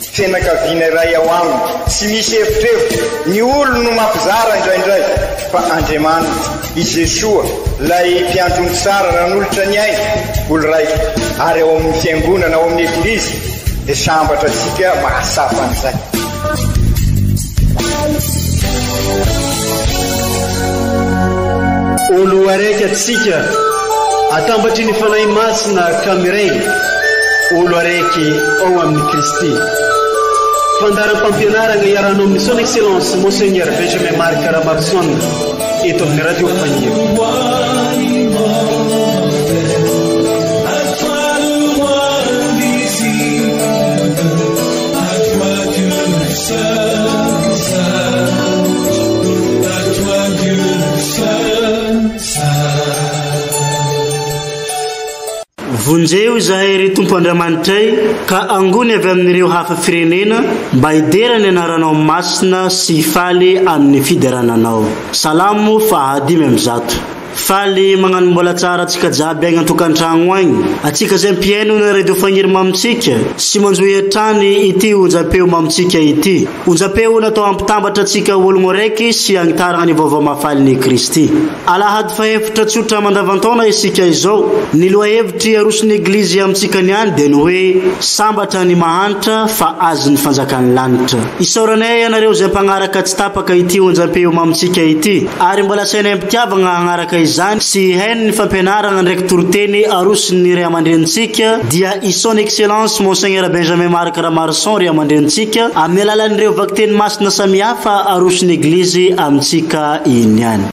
Fianakaviana iray ao aminy. Tsy misy evitrevitra, ny olony no mampizara indraindray, fa Andriamaniny, i Jesoa, ilay Mpiandrony tsara nanolotra ny ainy, olon-raiko, ary ao amin'ny Fiangonana, ao amin'ny Eglizy, dia sambatra antsika mahatsapa an'izay. Ho loharaiky antsika atambatry ny Fanahy Masina ka miray ho loharaiky ao amin'i Kristy. Fandaharam-pampianarana iarahana amin'ny Son Excellence Monseigneur Benjamin Marc Ramarison eto amin'ny Radio Fahiny. Vonjeo izahay, ry Tompo Andriamanitray, ka angony avy amin'ireo hafa firenena mba hidera ny anaranao masina sy hifaly amin'ny fiderana anao. Salamo faha dimy amby zato. Faly magnano mbola tsara atsika jiaby agny antokantragno agny atsika zay mpihaino ny radio fagniry mamintsika sy manjohy hatrany ity onjam-peo mamintsika ity onjam-peo natao hampitambatra atsika ologno araiky sy hagnitaragna ny vaovao mahafaligny i Kristy alahady fahefatra tsotra mandavantaona isika izao ny lohahevitry arosony eglizy amintsika niany dia ny hoe sambatra ny mahantra fa azony fanjakan'ny lanitra isaoranay ianareo zay mpagnaraka tsy tapaka ity onjam-peo mamintsika ity ary mbola asaina am-pitiavagna hagnaraka izany sy hainy ny fampianaragna ndraiky toriteny arosin'ny Ray aman-drenintsika, dia i Son Excellence Monseigneur Benjamin Marc Ramarison Ray aman-drenintsika, amin'ny alalan'ireo vakiteny masina samihafa aroson'ny Eglizy amintsika iniany.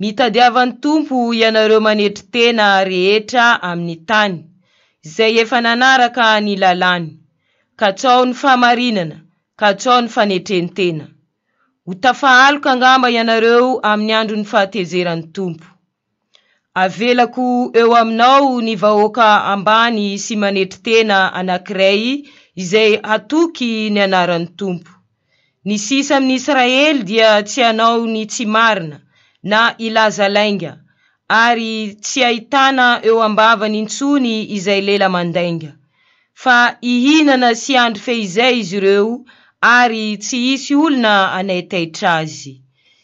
Mitadiavan'ny Tompo ianareo manetry tena rehetra amin'ny tany, izay efa nanaraka ny lalàny. Katsao ny fahamarinana, katsao ny fanetren-tena. Ho tafahaloka angamba ianareo amin'ny andron'ny fahatezeran'ny Tompo. Avelako eo aminao ny vahoaka ambany sy manetry tena anankiray izay hatoky ny anaran'ny Tompo. Ny sisa amin'ny Israely dia tsy hanao ny tsy marina na hilaza lainga, ary tsy hahitana eo am-bavany intsony izay lela mandainga. Fa hihinana sy handry fehizay izy ireo, ary tsy hisy olona hanaitaitra azy.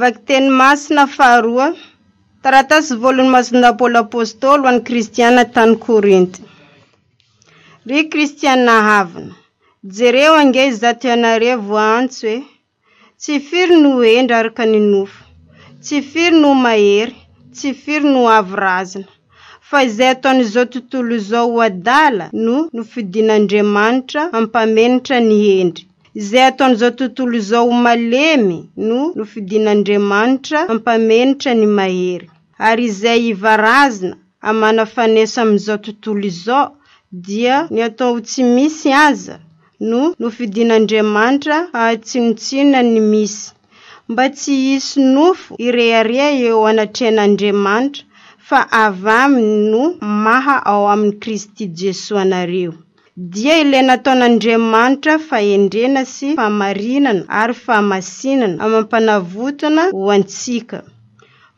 Vakiteny masina faharoa. Taratasy voalohan'i Masina Paoly Apôstôly ho an'ny Kristiana tany Korinty. Ry Kristiana havana, jereo ange izato ianareo antso e! Tsy firy no hendry araka ny nofo, tsy firy no mahery, tsy firy no avo razana. Fa izay ataon'izao tontolo izao ho adala no nofidin'Andriamanitra hampamenitra ny hendry. Izay ataon'izao tontolo izao ho malemy no nofidin'Andriamanitra hampamenitra ny mahery. Ary izay ivarazina amana fanesa amin'izao tontolo izao, dia ny atao ho tsy misy aza no nofidin'Andriamanitra hahatsinontsinonan ny misy. mba tsy hisy nofo hirehareha eo anatrehan'Andriamanitra, fa avy aminy no maha ao amin'i Kristy Jesoa anareo. Dia ilay nataon'Andriamanitra fahendrena sy fahamarinana ary fahamasinana amam-panavotana ho antsika.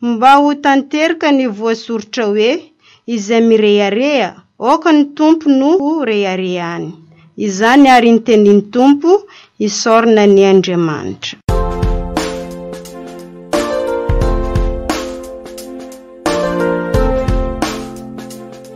Mba ho tanteraka ny voasoritra hoe, Izay mirehareha, aoka ny Tompo no ho reharehany. Izany àry ny tenin'ny Tompo, Isaorana ny Andriamanitra.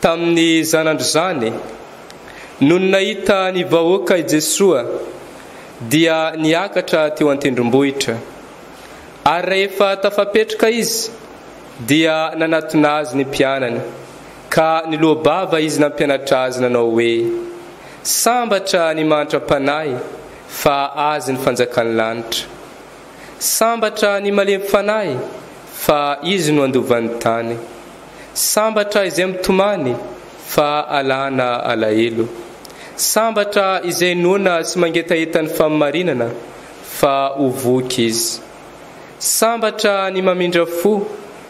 tamin'ny zanandrizany. Nony nahita ny vahoaka i Jesoa dia niakatra teo an-tendrombohitra. Ary rahefa tafapetraka Izy dia nanatona Azy ny mpianany ka niloa-bava Izy nampianatra azy nanao hoe, Sambatra ny mahantra-panahy fa azy ny fanjakan'ny lanitra. Sambatra ny malemy fanahy fa izy no handova ny tany. Sambatra izay mitomany fa alana alahelo. Sambatra izay noana sy mangetaheta ny fahamarinana fa ho voky izy. Sambatra ny mamindra fo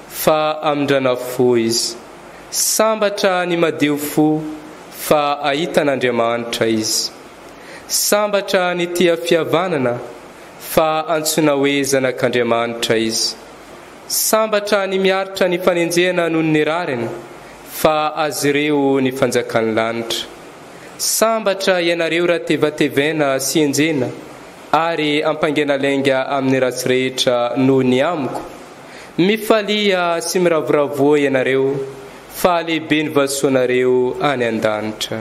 fa hamindrana fo izy. Sambatra ny madio fo fa hahita an'Andriamanitra izy. Sambatra ny tia fihavanana fa hantsoina hoe zanak'Andriamanitra izy. Sambatra ny miaritra ny fanenjehana noho ny rariny, fa azy ireo ny fanjakan'ny lanitra. Sambatra ianareo raha tevatevena sy enjehina ary ampaingena lainga amin'ny ratsy rehetra noho ny amiko. Mifalia sy miravoravoa ianareo, fa lehibe ny vasoanareo any an-danitra.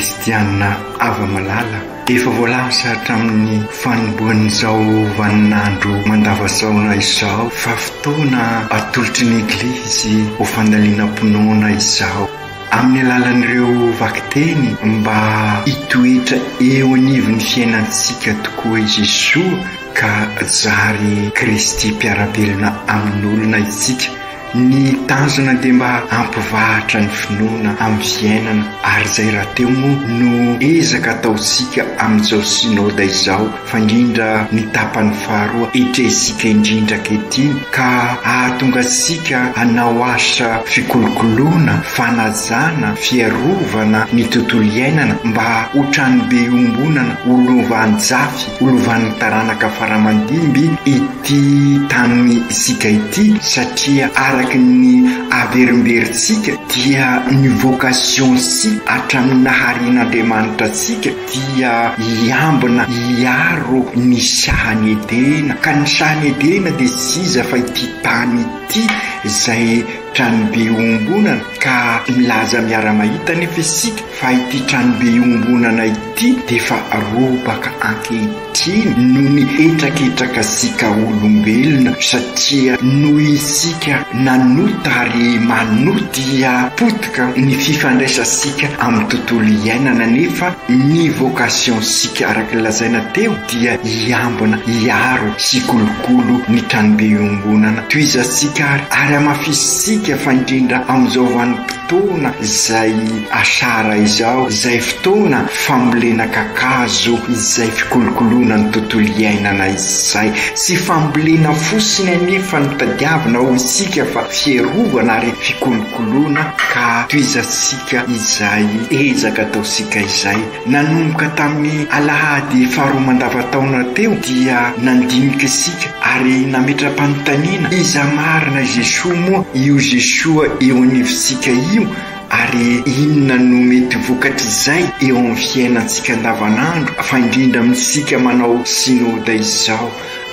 Kristianina hava-malala, efa voalaza hatramin'ny fanombohan'izao vaninandro mandavazaona izao fa fotoana atolotry ny Eglizy ho fandalinam-pinoana izao. amin'ny alalan'ireo vakiteny mba hitoetra eo anivon'ny fiainantsika tokoa i Jesoa ka zary Kristy mpiara-belona amin'olona isika. Ny tanjona dia mba hampivahatra ny finoana amin'ny fiainana ary izay rahateo moa no ezaka ataontsika amin'izao Synoda izao. fa indrindra ny tapany faharoa etrehintsika indrindra ankehitriny ka ahatonga antsika hanao asa fikolokoloana, fanajana, fiarovana ny tontolo iainana mba ho tranobe iombonana ho lovanjafy ho lovan'ny taranaka faramandimby ity tany isika ity satria araka ny averimberintsika dia ny vocation-tsika hatramin'ny naharian'Andriamanitra antsika dia hiambina hiaro ny sahan'i Edena, ka ny sahan'i Edena dia tsy iza fa ity tany ity izay tranobe iombonana, ka milaza miara-mahita anefa isika fa ity tranobe iombonana ity dia efa robaka ankehitriny. Tsy noho ny hetraketraka sy kaolombelona satria noho isika nanota ary manoa dia potika ny fifandraisansika amin'ny tontolo iainana nefa ny vocation sika araka ny lazaina teo dia hiambina, hiaro sy hikolokolo ny tranobe iombonana. Tohizantsika ary ary hamafisintsika fa indrindra amin'izao vanim-potoana. Fotoana izay asara izao, izay fotoana fambolena kakazo, izay fikolokoloana ny tontolo iainana izay. Tsy fambolena fosiny anefa no tadiavina ho isika fa fierovana ary fikolokoloana ka tohizantsika izay ezaka ataontsika izay. Nanomboka tamin'ny alahady faharoa mandavantaona teo dia nandinika isika ary nametra-panontaniana iza marina i Jesoa moa io Jesoa eo anivontsika io ary inona no mety ho vokatr'izay eo amin'ny fiainantsika andavanandro fa indrindra amintsika manao Synoda izao.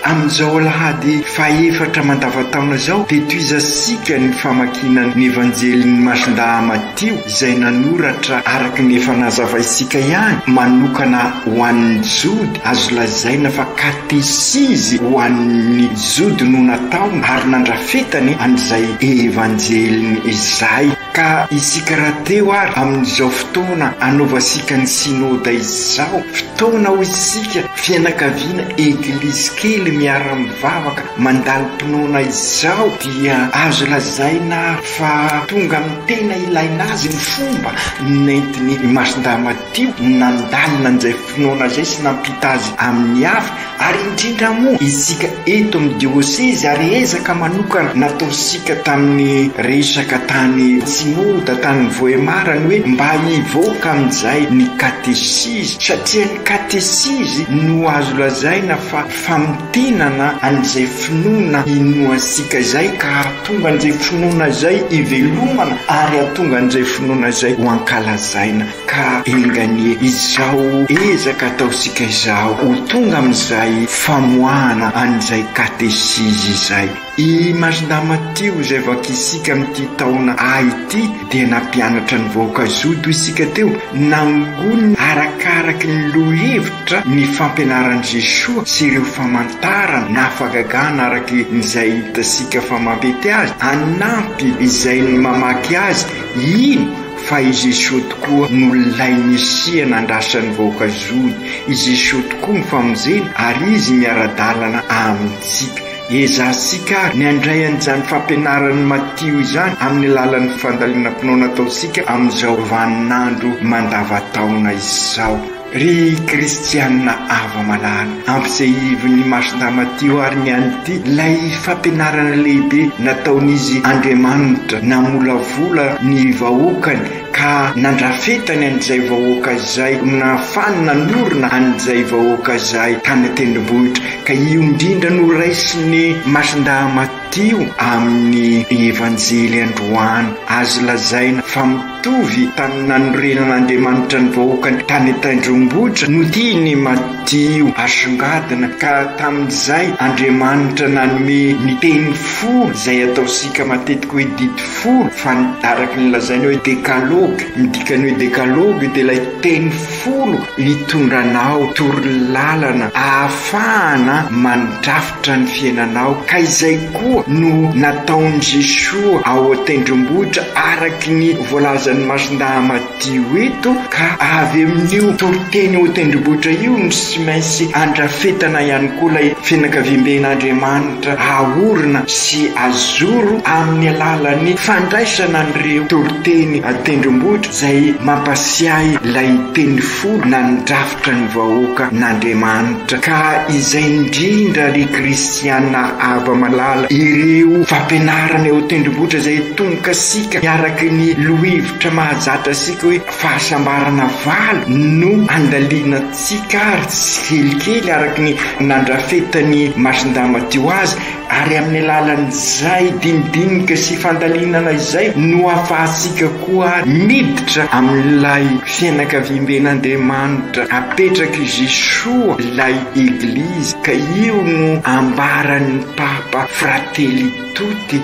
Amin'izao alahady fahefatra mandavan-taona izao dia tohizantsika ny famakiana ny Evanjelin'i Masindahy Matio izay nanoratra araka ny efa nazavaintsika ihany manokana ho an'ny Jody, azo lazaina fa katesizy ho an'ny Jody no nataony ary nandrafetany an'izay Evanjeliny izay. Ka isika rahateo ary amin'izao fotoana anaovasika ny Synoda izao, fotoana hoy isika fianakaviana Eglizy kely miara-mivavaka mandalim-pinoana izao dia azo lazaina ary fa tonga amin'ny tena ilaina azy ny fomba nentin'ny Masindahy Matio nandalina an'izay Finoana izay sy nampita azy amin'ny hafa, ary indrindra moa isika eto amin'ny diosezy, ary ezaka manokana nataontsika tamin'ny resaka tany Tsimoda, tany Vohemar, ny hoe mba hivoaka amin'izay ny katesizy, satria ny katesizy no azo lazaina fa famintinana an'izay finoana inoantsika izay, ka hahatonga an'izay finoana izay hivelomana, ary hahatonga an'izay finoana izay ho ankalazaina. Ka enga anie izao ezaka ataontsika izao ho tonga amin'izay famoahana an'izay katesizy izay. I Masdama Tio izay vakintsika amin'ity taona A ity dia nampianatra ny vahoaka zoto isika teo, nangoniny arakaraky ny lohevitra ny fampianaran'i Jesoa sy ireo famantarana na fagagana araky izay hitasika fa mampety azy, hanampy izay mamaky azy, ino? Fa i Jesosy tokoa no lay Mesia nandrasan'ny vahoaka Jody. I Jesosy tokoa no famonjena ary Izy miara-dalana amintsika. Ezahintsika àry ny handray an'izany fampianaran'i Matio izany amin'ny alalan'ny fandalinam-pinoana ataontsika amin'izao vaninandro mandavataona izao. Ry kristiana avo amalala, ampisehivin'ny Masina Matio àry ny an'ity, ilay fampianarana lehibe nataon'Izy Andriamanitra, namolavola ny vahoakany ka nandrafetany an'izay vahoaka izay, nahafahany nanorina an'izay vahoaka izay tany an-tendrombohitra, ka io indrindra no raisin'ny Masindahy Matio. Teo amin'ny Evanjely androany, azo lazaina fa mitovy tamin'ny nanorenan'Andriamanitra ny vahoakany tany an-tendrombohitra no tiany i Matio hasongadina, ka tamin'izay Andriamanitra nanome ny teny folo izay ataontsika matetika hoe didy folo, fa araky ny lazainy hoe Dekalogy, midika ny hoe Dekalogy dia ilay teny folo hitondranao torolalana ahafahana mandrafitra. Tra ny fiainanao ka izay koa no nataon'i Jesoa ao an-tendrombohitra araky ny voalazan'ny Masindahy Matio eto ka avy amin'io toriteny ao an-tendrombohitra io no sy mainsy andrafetana ihany koa ilay fianakaviamben'Andriamanitra aorina sy azoro amin'ny alalan'ny fandraisana an'ireo toriteny an-tendrombohitra izay mampasiahy ilay teny folo na ny drafitra Mpanotra ny vahoaka n'Andriamanitra ka izay indrindra ry kristiana ava malala ireo fampianarana eo tendrombohitra izay atonkasika miaraky ny lohevitra mahazatra sika hoe fahasambarana valo no andalianantsika ary tsikelikely araky ny nandrafetan'i Masindama teo azy Ary amin'ny alalan'izay dinidinika sy fandalinana izay no ahafahantsika koa àry miditra amin'ilay fianakaviamben'Andriamanitra apetrak'i Jesoa, ilay Eglizy, ka io no ambaran'ny Papa, Fratelli tutti,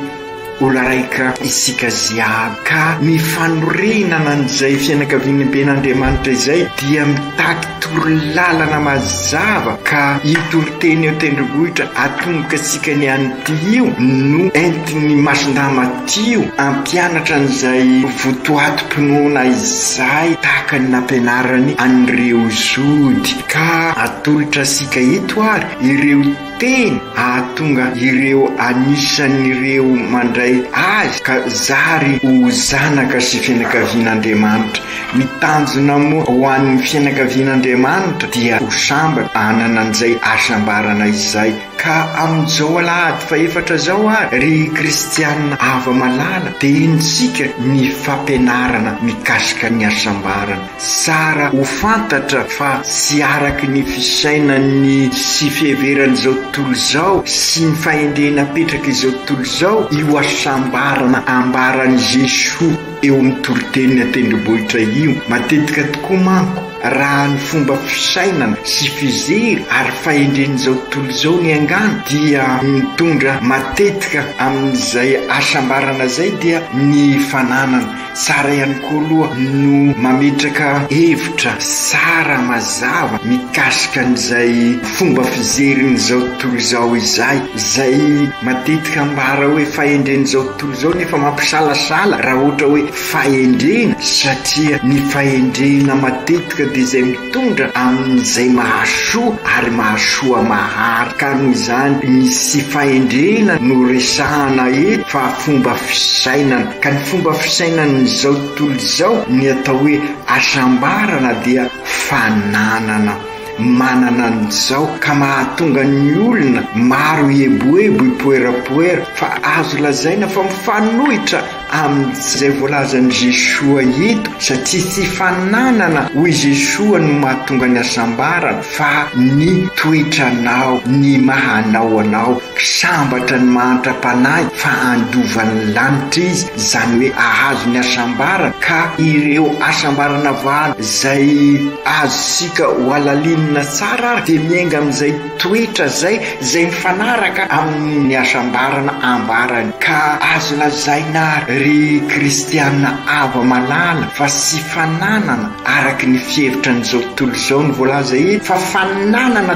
Olona raika isika jiaby, ka mifanorirana nan'izay fianakaviany ben' Andriamanitra izay dia mitaky torolalana mazava ka io toriteny eo tendrombohitra atomboka antsika ny an'ity io no entin'ny masindahy Matio ampianatra an'izay votoatim-pinoana izay tahaka ny nampianarany an'ireo Zody ka atolotra antsika eto ary ireo Tena hahatonga ireo anisan'ireo mandray Azy ka zary ho zanaka sy fianakavian'Andriamanitra. Ny tanjona moa ho an'ny fianakavian'Andriamanitra dia ho sambatra hanana an'izay hasambarana izay. Ka amin'izao alahady fahefatra izao ary, ry kristiana hava-malala, dia henontsika ny fampianarana mikasika ny hasambarana. Tsara ho fantatra fa tsy araky ny fisainan'ny sy fiheveran'izao tontolo izao sy ny fahendrena apetrak'izao tontolo izao io hasambarana ambaran'i Jesoa eo amin'ny toriten'ny an-tendrombohitra io. Matetika tokoa manko, raha ny fomba fisainana sy fijery ary fahendren'izao tontolo izao ny angano dia mitondra matetika amin'izay hasambarana izay dia ny fananana Tsara ihany koa aloha no mametraka hevitra tsara mazava mikasika an'izay fomba fijerin'izao tontolo izao izay, izay matetika ambara hoe fahendren'izao tontolo izao nefa mampisalasala raha ohatra hoe fahendrena satria ny fahendrena matetika dia izay mitondra amin'izay mahasoa ary mahasoa mahary ka noho izany ny tsy fahendrena no resahana eto fa fomba fisainana. Ka ny fomba fisainan'izao tontolo izao, ny atao hoe hasambarana dia fananana manana an'izao ka mahatonga ny olona maro hieboebo hipoerapoera fa azo lazaina fa mifanohitra amin'izay voalazan'i Jesoa eto satria tsy fananana hoy Jesoa no mahatonga ny hasambarana fa ny toetranao, ny maha anao anao. Sambatra ny mahantra panahy fa andovan'ny lanitra izy, izany hoe ahazo ny hasambarany, ka ireo hasambarana valo izay azontsika hohalalinina tsara ary dia miainga amin'izay toetra izay izay mifanaraka amin'ny hasambarana ambarany. Ka azo lazaina ary ry kristiana ava malala fa tsy fananana araka ny fihevitra an'izao tontolo izao ny voalaza eto fa fananana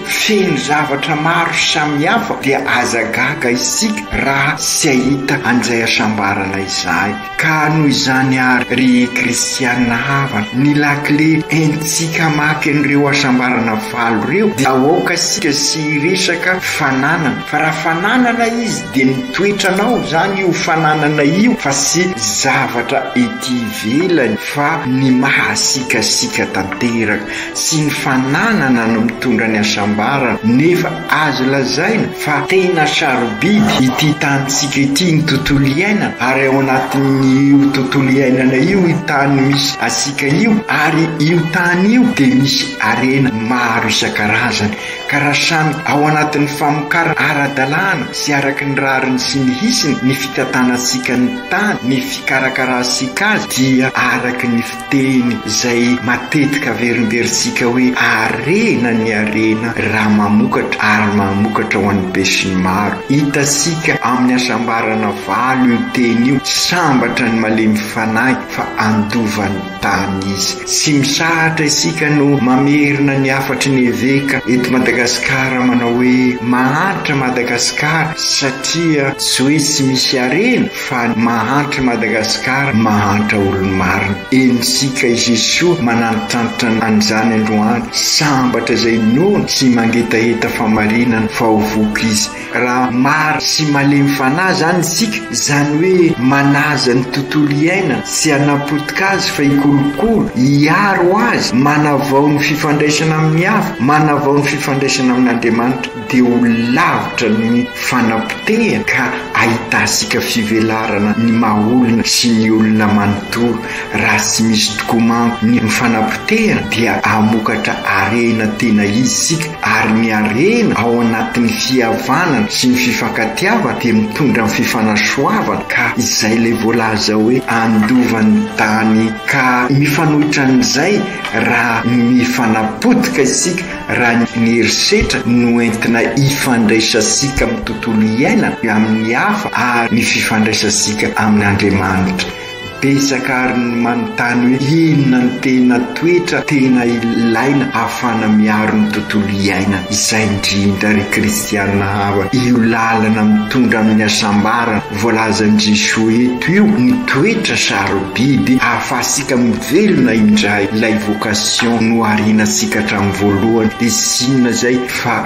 Feno zavatra maro samihafa dia aza gaga isika raha tsy hahita an'izay hasambarana izay. Ka noho izany ary ry kristiana havana, ny lakile entintsika hamaky an'ireo hasambarana valo ireo dia aoka isika tsy hiresaka fananana fa raha fananana izy dia ny toetranao izany io fananana io fa tsy zavatra ety ivelany fa ny mahasikasika tanteraka. Tsy ny fananana no mitondra ny hasambarana nefa azo lazaina fa tena sarobidy ity tanintsika ity ny tontolo iainana ary ao anatin'io tontolo iainana io io tany misy antsika io ary io tany io dia misy harena maro isan-karazany ka raha samy ao anatin'ny famokarana ara-dalàna sy araky ny rariny sy ny hisiny ny fitantanantsika ny tany ny fikarakarantsika azy dia araky ny Teny izay matetika averinteritsika hoe harena ny harena raha mamokatra ary mamokatra ho an'ny besinimaro. Hitantsika amin'ny hasambarana valo io teny io, sambatra ny malemy fanahy fa handova ny tany izy. Tsy misahatra isika no mamerina ny hafatry ny eveka eto Madagasikara manao hoe mahantra Madagasikara satria tsy hoe tsy misy harena, Fa mahantra Madagascar mahantra olony marina enitsika Jesoa manantitrantitra anizany aloha any sambatra zay nono tsy mangetaheta famarinana fa ho voky izy raha mary sy malemy fanahy zany isika zany hoe manaja ny tontolo iainana tsy hanapotika azy fa hikolokolo hiaro azy manavao ny fifandraisana aminy hafa manavao ny fifandraisana amin'Andriamanitra dia ho lavitra ny fanapotehana ka ahitasika fivelarana ny maha olona sy ny olona manontolo. Raha tsy misy tokoa manko ny fanapotehana dia hamokatra harena tena izy isika ary ny harena ao anatin'ny fihavanana sy ny fifankatiavana dia mitondra ny fifanasoavana ka izay ilay voalaza hoe handova ny tany ka mifanohitra an'izay raha mifanapotika isika Raha ny herisetra no entina hifandraisantsika amin'ny tontolo iainana, amin'ny hafa ary ny fifandraisantsika amin'Andriamanitra. Betsaka àry ny manontany hoe inona no tena toetra tena ilaina ahafahana miaro ny tontolo iainana. Izay indrindra, ry Kristianina havana, io lalana mitondra amin'ny hasambarana. Voalazan-dry Joe eto io ny toetra sarobidy ahafahantsika mivelona indray ilay vocation noharianantsika hatramin'ny voalohany dia tsy inona izay fa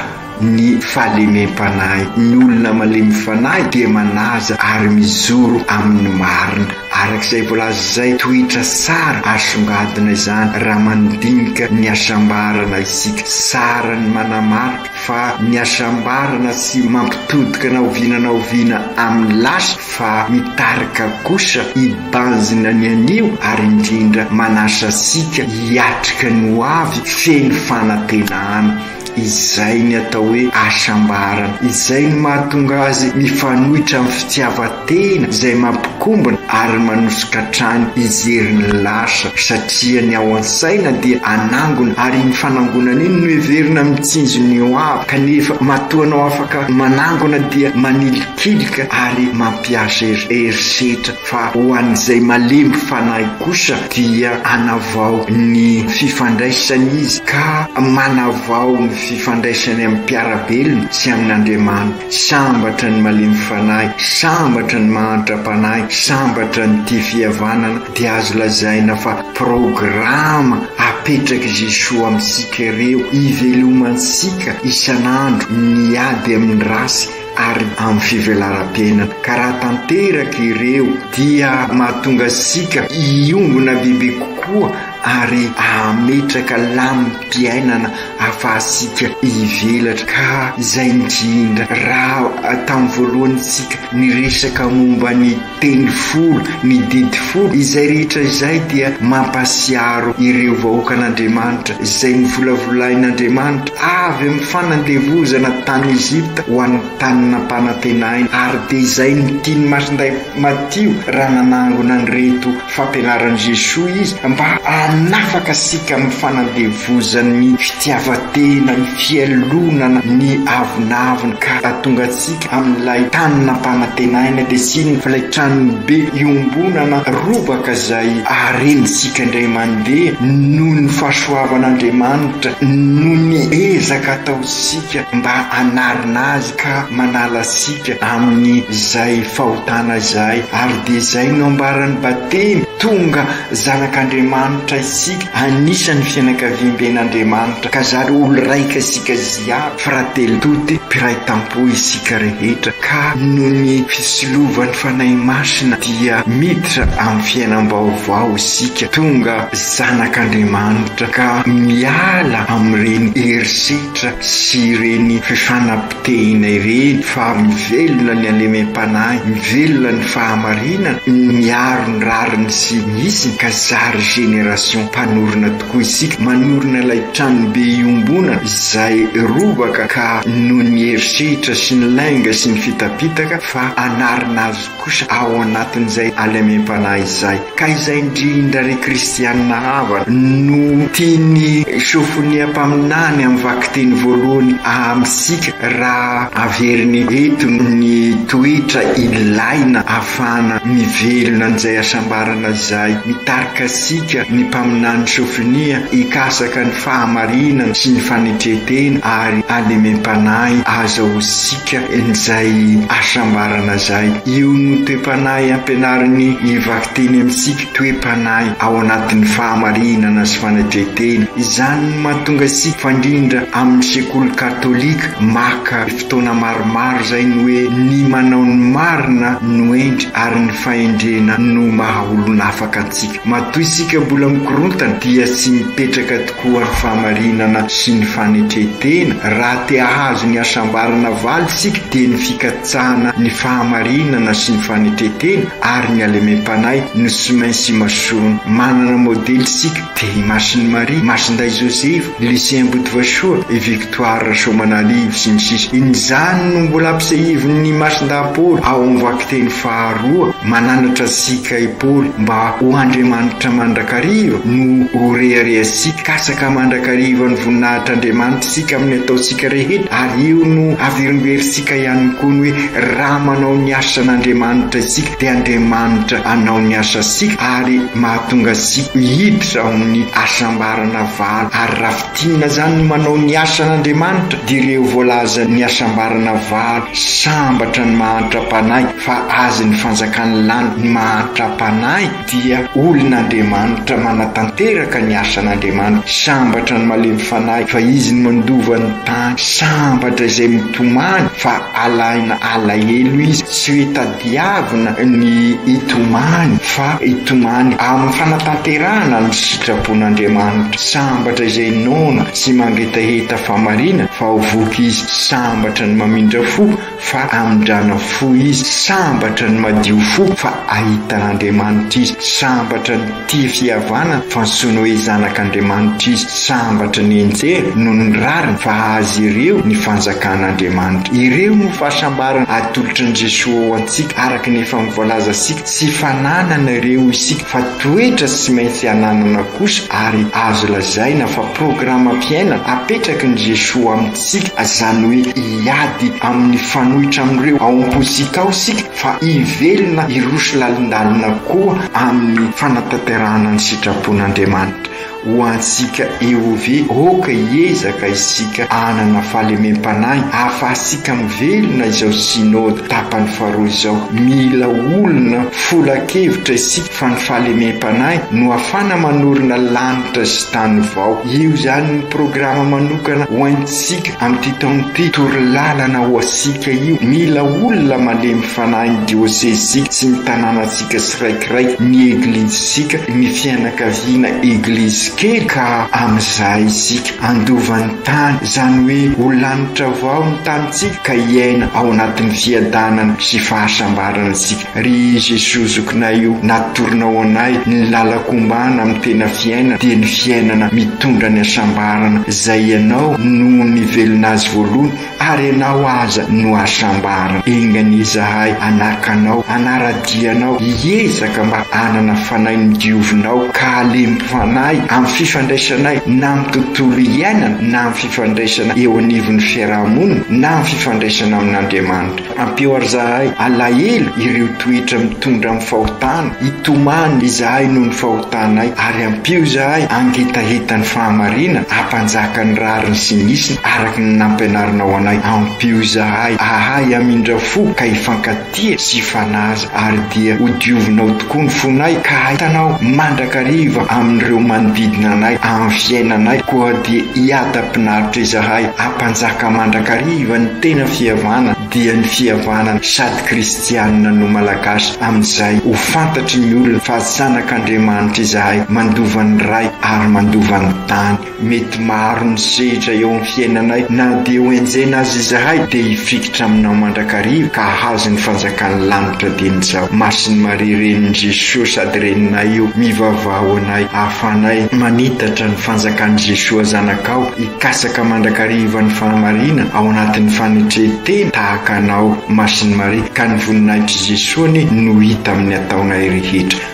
ny fahalemem-panahy. Ny olona malemy fanahy dia manaja ary mijoro amin'ny marina. Araka izay voalaza izay, toetra tsara asongadina izany raha mandinika ny hasambarana isika. Tsara ny manamarika. fa ny hasambarana tsy mampitodika na oviana na oviana amin'ny lasa fa mitarika kosa hibanjina ny anio ary indrindra manasa antsika hiatrika ny ho avy feno fanantenana. Izay ny atao hoe hasambarana. Izay no mahatonga azy mifanohitra amin'ny fitiavan-. Tena izay mampikombona ary manosika hatrany hijery ny lasa satria ny ao an-tsaina dia hanangona ary iny fanangonana iny no heverina mitsinjo ny ho avy kanefa matoa anao afaka manangona dia manilikilika ary mampiasa herisetra fa ho an'izay malemy fanahy kosa dia hanavao ny fifandraisany izy ka manavao ny fifandraisany amin'ny mpiara-belona sy amin'Andriamanitra. Sambatra ny malemy fanahy, sambatra ny mahantra panahy, sambatra ny tia fihavanana dia azo lazaina fa programa apetrak'i Jesoa amintsika ireo hivelomantsika isan'andro ny ady amin'ny ratsy ary amin'ny fivelaram-piainana ka raha tanteraka ireo dia mahatonga antsika hiombona bebe kokoa ary hametraka lamim-piainana afahantsika hivelatra ka izay indrindra raha tamin'ny voalohany isika niresaka momba ny teny folo, ny didy folo, izay rehetra izay dia mampasiaro ireo vahoakan'Andriamanitra izay novolavolain'Andriamanitra avy amin'ny fanandevozana tany Egypta ho any tany nampanantenaina ary dia izay ny tian'ny Masindahy Matio raha nanangona an'ireto Fampianaran'i Jesoa izy mba hanafaka antsika amin'ny fanandevozan'ny fitiavan-tena, ny fialonana, ny avonavona ka hahatonga antsika amin'ilay tany nampanantenaina dia tsy inona fa ilay tranony be iombonana robaka izay harentsika indray mandeha noho ny fahasoavan'Andriamanitra, noho ny ezaka ataontsika mba hanarina Azy ka manala antsika. Amin'ny izay fahotana izay ary dia izay no ambaran'ny batemy, tonga zanak'Andriamanitra isika, anisan'ny fianakaviamben'Andriamanitra, ka zary olo-raika isika ziaby, fratelli tutti, mpiray tampo isika rehetra, ka noho ny fisilovan'ny Fanahy Masina dia miditra amin'ny fiainam-baovao isika, tonga zanak'Andriamanitra, ka miala amin'ireny herisetra sy ireny fifanam-. Tehinay re fa mivelona ny halemem-panahy, mivelona ny fahamarinana, miaro ny rariny sy ny hisiny ka zary génération mpanorina tokoa isika, manorina ilay tranobe iombonana izay robaka ka noho ny herisetra sy ny lainga sy ny fitapitaka fa hanarina azy kosa ao anatin'izay halemem-panahy izay, ka izay indrindra ry kristianina havana no tian'i Sofonia mpaminany amin'ny vakiteny voalohany amintsika raha averiny eto ny toetra ilaina ahafahana mivelona an'izay hasambarana izay. Mitarika antsika ny mpaminany Sofonia hikasaka ny fahamarinana sy ny fanetre-tena ary halemem-panahy aza ho sipa. Ka in'izay hasambarana zay, io no toe-panahy ampianarin'i i Vakiteny amintsika, toe-panahy ao anatin'ny fahamarinana sy fanetren-tena. Izany no mahatonga isika, fandrindra amin'ny sekoly katolika, maka fotoana maromaro zay ny hoe, ny manao ny marina no hendry ary ny fahendrena no maha olon'afaka antsika. Matoa isika mbola mikorontana dia tsy mipetraka tokoa ny fahamarinana sy ny fanetren-tena, raha te hahazo ny hasambarana valy isika dia ny fikatsahana ny fahamarinana sy ny fanetren-tena ary ny halemem-panahy no tsy maintsy imasoana. Manana modely isika dia i Masin'i Maria, Masindahy Josefa, Lycée Ambodivoasoa, i Victoire Rasoamanalivo, sy ny sisa In'izany no mbola ampisehivin'ny mason-dahy-Paoly ao amin'ny vakiteny faharoa, Mananatra antsika i Paoly mba ho Andriamanitra mandrakariva no ho reharehantsika, katsaka mandrakariva ny voninahitr'Andriamanitra isika amin'ny ataontsika rehetra, ary io no averimberintsika ihany koa ny hoe raha manao ny asan'Andriamanitra isika dia Andriamanitra hanao ny asantsika ary mahatonga antsika hiditra ao amin'ny asam-. Karana valo ary raha fintinina zany ny manao ny asan' Andriamanitra dia ireo voalazan' ny hasambarana valo sambatra ny mahantra panahy fa azin' ny fanjakan' lany ny mahantra panahy dia olon' Andriamanitra manatanteraka ny asan' Andriamanitra sambatra ny malemy fanahy fa izy no mandova ny tany sambatra izay mitomany fa alaina alahelo izy tsy hoe Mpiavona ny hitomany, fa hitomany amin'ny fanatanterahana ny sitrapon-Andriamanitra. Sambatra izay noana sy mangetaheta fahamariana fa ho voky izy. Sambatra ny mamindra fo fa hamindrana fo izy. Sambatra ny madio fo fa hahita an'Andriamanitra izy. Sambatra ny. Tia fihavanana fa ny sony hoe zanak'Andriamanitra izy. Sambatra ny enjehina noho ny rariny fa azy ireo ny fanjakan'Andriamanitra. Ireo no fahasambarana atolotr'i Jesoa ho antsika araka ny efa novoalaza isika. Tsy fananana ireo hoy isika fa toetra tsy maintsy ananana kosa ary azo lazaina fa programam-piainana apetrakin'i Jesoa amintsika izany hoe hiady amin'ny fanoitra amin'ireo ao am-pontsika ao isika. fa hivelona hiroso lalindalina koa amin'ny fanatanterahana ny sitrapon'Andriamanitra ho antsika EOV Aoka hiezaka isika hanana fahalemem-panahy hahafahantsika mivelona izao Synode tapany faharoa izao Mila olona folan-kevitra isika fa ny fahalemem-panahy no hahafana manorina lanitra sy tany vao Io izany ny programa manokana ho antsika Isika amin'ity taona ity, toro lalana ho asika io. Mila olona malemy fanahy ny diôsezisika sy ny tanànantsika tsiraikiraiky, ny Eglizisika, ny fianakaviana Eglizy kely ka amin'izay isika handova ny tany, izany hoe ho lanitra vaho ny tanintsika ka hiaina ao anatin'ny fiadanana sy fahasambarana isika. Ry Jesoa Zokinay o, natoronao anay ny lalako ombana amin'ny tena fiainana dia ny fiainana mitondra ny hasambarana izay Ianao no nivelona azy voalohany ary Ianao aza no hasambarana. Enga anie izahay hanaka Anao, hanara-dia Anao, hiezaka mba hanana fanahy midiovina ao ka halemy fanahy amin'ny fifandraisanay na amin'ny tontolo iainana na amin'ny fifandraisana eo anivon'ny fiaraha-monina na amin'ny fifandraisana amin'Andriamanitra. Ampio ary zahay alahelo ireo toetra mitondra amin'ny fahotana, hitomany izahay noho ny fahotanay, ary ampio izahay hangetaheta ny fahamarinana, hampanjaka ny rariny sy ny isiny araka ny nampianarinao anay, ampio izahay hahay hamindra fo ka hifankatia sy hifanaja. Ary dia hodiovinao tokoa ny fonay, ka hahitanao mandrakariva amin'ireo manodidina anay amin'ny fiainanay, koa dia hiadam-pinaritra izahay hampanjaka mandrakariva ny tena fihavana, dia ny fihavana sady kristianina no malagasy, amin'izay ho fantatry ny olona fa zanak'Andriamanitra izahay, mandova ny ray ary mandova ny tany. Mety maro ny sehitra eo amin'ny fiainanay na dia ho enjehina aza izahay dia hifikitra aminao mandrakariva ka hahazo ny fanjakan'ny lanitra dia ny za masin'ny Maria renin'i Jesoa sady reninay io mivavaha ho anay ahafanay manitatra ny fanjakan'i Jesoa zanakao hikatsaka mandrakariva ny fahamarina ao anatin'ny fanetren-tena tahaka anao masin'ny Maria ka ny voninahitr'i Jesoa anie no hita amin'ny ataonay rehetra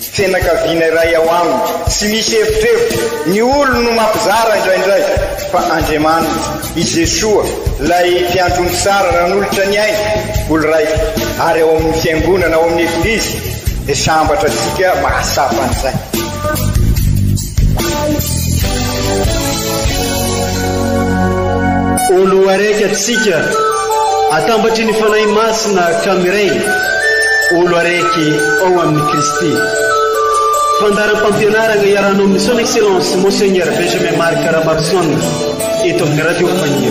Fianakaviana iray ao aminy. Tsy misy evitrevitra, ny olony no mampizara indraindray, fa Andriamaniny, i Jesoa, ilay Mpiandry omby tsara nanolotra ny ainy, olon-draika, ary ao amin'ny Fiangonana, ao amin'ny Eglizy, dia sambatra antsika mahatsapa an'izay. Ho loharaiky atsika atambatry ny Fanahy Masina ka miray ho loharaiky ao amin'i Kristy. Fandaharam-pampianarana iarahana amin'ny Son Excellence Monseigneur Benjamin Marc Ramarson eto amin'ny Radio Faniry.